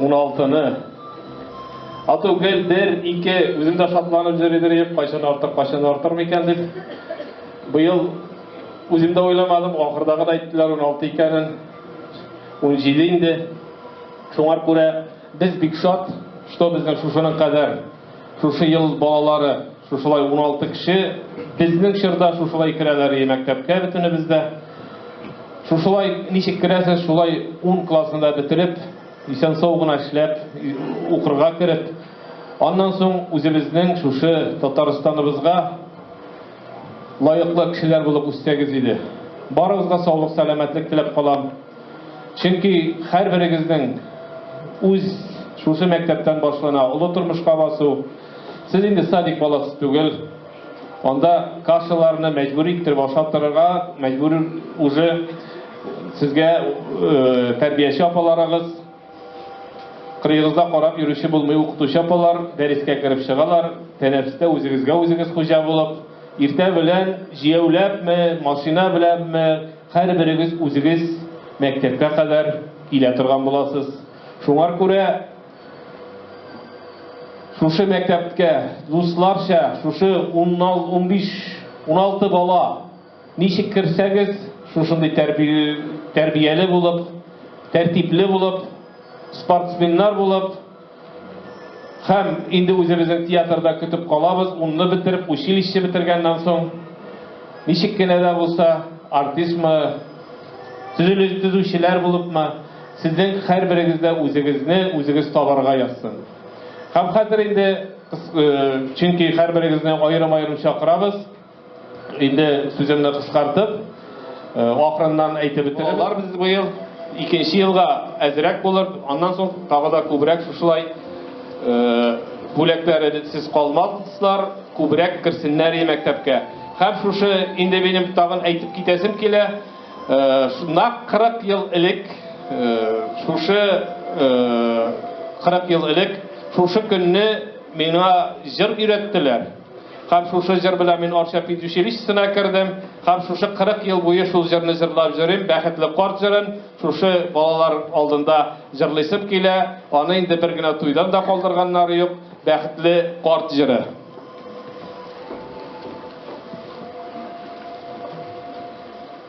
Уналтыны. Ату гел бер, ике, үзем дә шатланып йөридер идем, кайчан артыр, кайчан артыр микән дип. Быел үзем дә уйламадым, ахырдагы да әйттеләр 16 икәнен. 17 инде. Шуңар күрә без бик шат, что безнең шушының кадәр Шушы ел балалары шушылай уналты кеше безнең чорда шушылай керәләр и мәктәпкә бөтенебез дә. Шушылай ничек керәсез, шулай ун классны да бетереп, исән-сау гына эшләп, укырга кереп, аннан соң үзебезнең шушы Татарстаныбызга лаеклы кешеләр булып үссәгез иде. Барыгызга саулык-сәламәтлек теләп калам. Чөнки һәрберегезнең үз шушы мәктәптән башлана олы тормышка басу. Сез инде садик баласы түгел. Анда кашаларны мәҗбүри иттереп ашап торырга мәҗбүр уже сезгә тәрбияче апаларыгыз, кырыегызда карап йөрүче булмый укытучы апалар дәрескә кереп чыгалар, тәнәфестә үзегезгә үзегез хуҗа булып, иртә белән җияүләпме, машина беләнме, Һәрберегез үзегез мәктәпкә кадәр килә торган буласыз. Шуңар күрә шушы мәктәпкә дусларча шушы унбиш, уналты бала ничек керсәгез, шушындый тәрбияле булып, тәртипле булып, спортсменнар булып, Һәм инде үзебезнең театрда көтеп калабыз, унны бетереп, училище бетергәннән соң, ничек кенә дә булса, артистмы, төзелеш төзүчеләр булыпмы, сезнең һәрберегез дә үзегезне үзегез табарга язсын. Һәм хәзер инде, чөнки һәрберегезне аерым-аерым чакырабыз. Инде сүземне кыскартып, ахырыннан әйтеп бетерәм. Алар без быел икенче елга әзрәк булыр, аннан соң тагы да күбрәк шушылай бүләкләре сез калмаслар, күбрәк керсеннәр и мәктәпкә. Һәм шушы инде минем тагын әйтеп китәсем килә, нак 40 ел элек, шушы 40 ел элек шушы көнне миңа җыр өйрәттеләр. Һәм шушы җыр белән мин Арча педучилищесына кердем, һәм шушы 40 ел буе шул җырны җырлап йөрим, Бәхетле карт җырын шушы балалар алдында җырлыйсым килә, аны инде бер генә туйдан да калдырганнары юк, Бәхетле карт җыры.